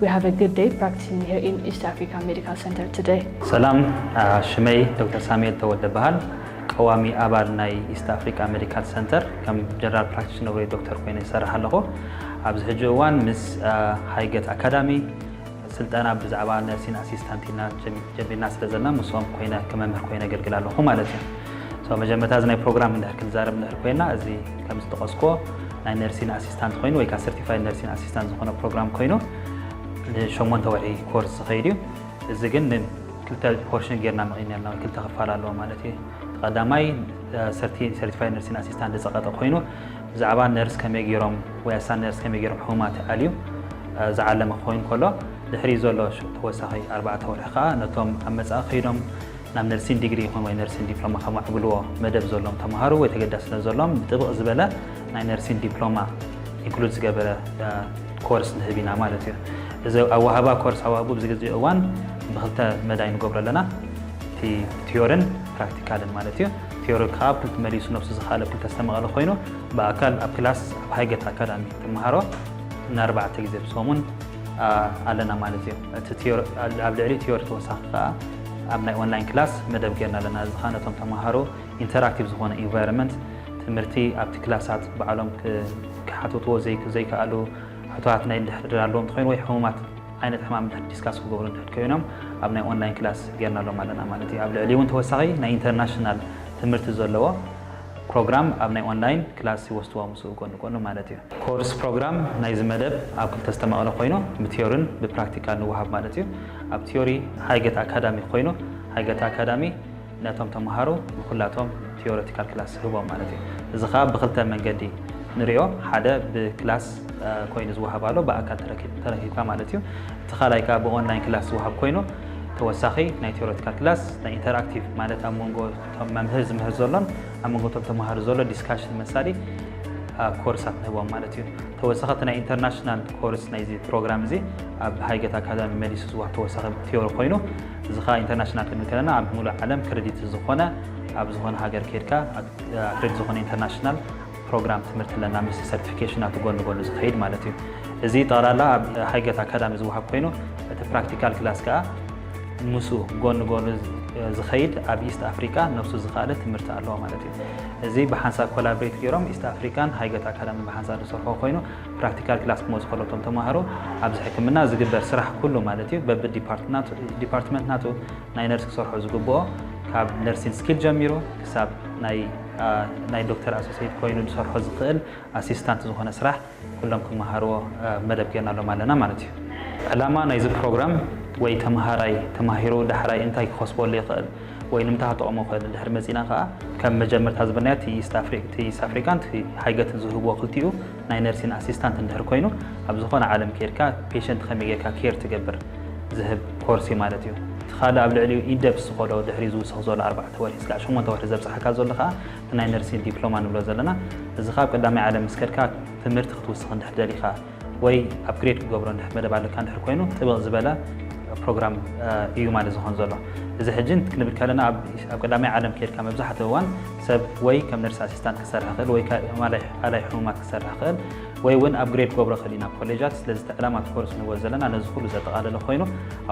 We have a good day practicing here in East Africa Medical Center today. ሰላም ሽመይ ዶክተር ሳሙኤል ተወልደ በሃል ቀዋሚ ኣባል ናይ ኢስት ኣፍሪካ ሜዲካል ሰንተር ከም ጀነራል ፕራክቲሽነር ወይ ዶክተር ኮይነ ይሰርሕ ኣለኹ ኣብዚ ሕጂ እዋን ምስ ሃይገት ኣካዳሚ ስልጠና ብዛዕባ ነርሲን ኣሲስታንት ኢና ጀሚርና ስለ ዘለና ምስኦም ኮይነ ከመምህር ኮይነ ኣገልግል ኣለኹ ማለት እዩ ሰው መጀመርታ እዚ ናይ ፕሮግራም እንድሕር ክንዛረብ እንድሕር ኮይና እዚ ከም ዝጠቐስክዎ ናይ ነርሲን ኣሲስታንት ኮይኑ ወይ ከዓ ሰርቲፋይድ ነርሲን ኣሲስታንት ዝኾነ ፕሮግራም ኮይኑ ንሸሞንተ ወርሒ ኮርስ ዝኸይድ እዩ እዚ ግን ክልተ ፖርሽን ጌርና መቒና ኣለና ወይ ክልተ ክፋል ኣለዎ ማለት እዩ ተቐዳማይ ሰርቲፋይድ ነርሲን ኣሲስታንት ዝፀቐጠ ኮይኑ ብዛዕባ ነርስ ከመይ ገይሮም ወይ ኣሳ ነርስ ከመይ ገይሮም ሕሙማት ኣልዩ ዝዓለመ ክኸውን ከሎ ድሕሪ ዘሎ ተወሳኺ ኣርባዕተ ወርሒ ከዓ ነቶም ኣብ መፃኢ ከይዶም ናብ ነርሲን ዲግሪ ይኹን ወይ ነርሲን ዲፕሎማ ከማዕብልዎ መደብ ዘሎም ተምሃሩ ወይ ተገዳስነት ዘሎም ብጥብቕ ዝበለ ናይ ነርሲን ዲፕሎማ ኢንክሉድ ዝገበረ ኮርስ ንህብ ኢና ማለት እዩ እዚ ኣዋህባ ኮርስ ኣዋህቡ ብዚ ግዜ እዋን ብክልተ መዳይ ንገብሮ ኣለና እቲ ቲዮርን ፕራክቲካልን ማለት እዩ ቲዮሪ ከዓ ኣብ ክልቲ መሊሱ ነብሱ ዝኸኣለ ኣብ ክልተ ዝተመቐለ ኮይኑ ብኣካል ኣብ ክላስ ኣብ ሃይገት ኣካዳሚ ትምሃሮ ንኣርባዕተ ግዜ ብሰሙን ኣለና ማለት እዩ እቲ ኣብ ልዕሊ ቲዮሪ ተወሳኺ ከዓ ኣብ ናይ ኦንላይን ክላስ መደብ ጌርና ኣለና። እዚ ከኣ ነቶም ተመሃሮ ኢንተራክቲቭ ዝኾነ ኢንቫይሮመንት ትምህርቲ ኣብቲ ክላሳት ባዕሎም ክሓትትዎ ዘይከኣሉ ሕቶታት ናይ እንድሕር ድር ኣለዎም እንተኾይኑ ወይ ሕሙማት ዓይነት ሕማም እንድሕር ዲስካስ ክገብሩ እንድሕር ኮይኖም ኣብ ናይ ኦንላይን ክላስ ጌርናሎም ኣለና ማለት እዩ። ኣብ ልዕሊ እውን ተወሳኺ ናይ ኢንተርናሽናል ትምህርቲ ዘለዎ ፕሮግራም ኣብ ናይ ኦንላይን ክላስ ይወስድዋ ምስኡ ጎኒ ጎኒ ማለት እዩ። ኮርስ ፕሮግራም ናይዚ መደብ ኣብ ክልተ ዝተመቐለ ኮይኑ ብትዮርን ብፕራክቲካል ንወሃብ ማለት እዩ። ኣብ ትዮሪ ሃይገት ኣካዳሚ ኮይኑ ሃይገት ኣካዳሚ ነቶም ተምሃሮ ንኩላቶም ትዮረቲካል ክላስ ይህቦም ማለት እዩ። እዚ ከኣ ብክልተ መንገዲ ንሪኦ ሓደ ብክላስ ኮይኑ ዝወሃብ ኣሎ ብኣካል ተረኪብካ ማለት እዩ። እቲ ካልኣይ ከኣ ብኦንላይን ክላስ ዝወሃብ ኮይኑ ተወሳኺ ናይ ትዮረቲካል ክላስ ናይ ኢንተርኣክቲቭ ማለት ኣብ መንጎ እቶም መምህር ዝምህር ዘሎን ኣብ መንጎ እቶም ተምሃሮ ዘሎ ዲስካሽን መሳሊ ኮርሳት ንህቦም ማለት እዩ ተወሳኸቲ ናይ ኢንተርናሽናል ኮርስ ናይዚ ፕሮግራም እዚ ኣብ ሃይገት ኣካዳሚ መሊሱ ዝዋሃብ ተወሳኺ ቴዎሪ ኮይኑ እዚ ከዓ ኢንተርናሽናል ክንብል ከለና ኣብ ሙሉእ ዓለም ክሬዲት ዝኾነ ኣብ ዝኾነ ሃገር ከድካ ክሬዲት ዝኾነ ኢንተርናሽናል ፕሮግራም ትምህርቲ ኣለና ምስ ሰርቲፊኬሽን ናቱ ጎኒ ጎኒ ዝኸይድ ማለት እዩ እዚ ጠቕላላ ኣብ ሃይገት ኣካዳሚ ዝወሃብ ኮይኑ እቲ ፕራክቲካል ክላስ ከዓ ምስ ጎኒ ጎኒ ዝኸይድ ኣብ ኢስት ኣፍሪካ ነብሱ ዝኸኣለ ትምህርቲ ኣለዎ ማለት እዩ እዚ ብሓንሳብ ኮላብሬት ገይሮም ኢስት ኣፍሪካን ሃይገት ኣካዳሚ ብሓንሳብ ዝሰርሖ ኮይኑ ፕራክቲካል ክላስ ክመፁ ከለቶም ተማሃሮ ኣብዚ ሕክምና ዝግበር ስራሕ ኩሉ ማለት እዩ በቢ ዲፓርትመንት ናቱ ናይ ነርስ ክሰርሖ ዝግብኦ ካብ ነርሲንግ ስኪል ጀሚሩ ክሳብ ናይ ዶክተር ኣሶሴት ኮይኑ ዝሰርሖ ዝኽእል ኣሲስታንት ዝኾነ ስራሕ ኩሎም ክመሃርዎ መደብ ጌርናሎም ኣለና ማለት እዩ። ዕላማ ናይዚ ፕሮግራም ወይ ተምሃራይ ተማሂሩ ዳሕራይ እንታይ ክኸስበሉ ይኽእል ወይ ንምንታይ ክጠቕሞ ይኽእል እንድሕር መጺእና ከኣ ከም መጀመርታ ዝበልናዮ እቲ ኢስት ኣፍሪካን ሃይገትን ዝህብዎ ክልቲኡ ናይ ነርሲን ኣሲስታንት እንድሕር ኮይኑ ኣብ ዝኾነ ዓለም ከይድካ ፔሸንት ከመይ ጌርካ ኬር ትገብር ዝህብ ኮርሲ ማለት እዩ። እቲ ካልእ ኣብ ልዕሊኡ ኢንደፕስ ዝኾዶ ድሕሪኡ ዝውስኽ ዘሎ ኣርባዕተ ወርሒ ስጋዕ ሸሞንተ ወርሒ ዘብጽሓካ ዘሎ ከኣ እቲ ናይ ነርሲን ዲፕሎማ ንብሎ ዘለና እዚ ከኣ ኣብ ቀዳማይ ዓለም ምስ ከድካ ትምህርቲ ክትውስኽ እንድሕር ደሊኻ ወይ ኣፕግሬድ ክገብሮ እንድሕር መደብ ኣለካ እንድሕር ኮይኑ ጥብቕ ዝበለ ፕሮግራም እዩ ማለት ዝኾን ዘሎ እዚ ሕጂ ክንብል ከለና ኣብ ቀዳማይ ዓለም ከይድካ መብዛሕትኡ እዋን ሰብ ወይ ከም ነርስ ኣሲስታንት ክሰርሕ ክእል ወይ ኣላይ ሕሙማት ክሰርሕ ክእል ወይ እውን ኣብ ግሬድ ክገብሮ ክእል ኢና ኮሌጃት ስለዚ እቲ ዕላማ እቲ ኮርስ ንበል ዘለና ነዚ ኩሉ ዘጠቓለለ ኮይኑ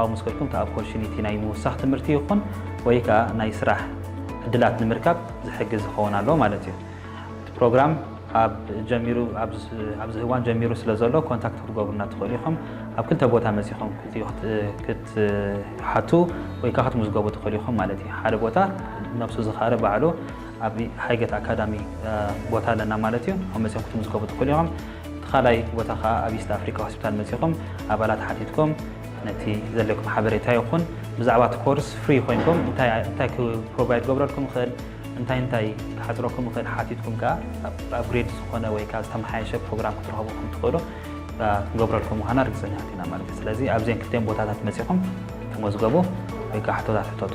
ኣብ መስከልኩም እቲ ኣፖርቹኒቲ ናይ ምውሳኽ ትምህርቲ ይኹን ወይ ከዓ ናይ ስራሕ ዕድላት ንምርካብ ዝሕግዝ ዝኸውን ኣሎ ማለት እዩ እቲ ፕሮግራም ካብ ጀሚሩ ኣብዚ ህዋን ጀሚሩ ስለ ዘሎ ኮንታክት ክትገብሩና ትኽእሉ ኢኹም። ኣብ ክልተ ቦታ መጺኹም ክትሓቱ ወይ ከዓ ክትምዝገቡ ትኽእሉ ኢኹም ማለት እዩ። ሓደ ቦታ ነብሱ ዝኻረ ባዕሉ ኣብ ሃይገት ኣካዳሚ ቦታ ኣለና ማለት እዩ። ኣብ መጺኹም ክትምዝገቡ ትኽእሉ ኢኹም። እቲ ካልኣይ ቦታ ከዓ ኣብ ኢስት ኣፍሪካ ሆስፒታል መጺኹም ኣባላት ሓቲትኩም ነቲ ዘለኩም ሓበሬታ ይኹን ብዛዕባ እቲ ኮርስ ፍሪ ኮይንኩም እንታይ ፕሮቫይድ ክገብረልኩም ይኽእል እንታይ እንታይ ክሓጽረኩም ይኽእል ሓቲትኩም ከኣ ኣፕግሬድ ዝኾነ ወይ ከኣ ዝተመሓየሸ ፕሮግራም ክትረኽቡ ከም ትኽእሉ ክንገብረልኩም ምዃና ርግጸኛታት ኢና ማለት እዩ። ስለዚ ኣብዘን ክልቲኦም ቦታታት መጺኹም ተመዝገቡ ወይ ከኣ ሕቶታት ሕተቱ።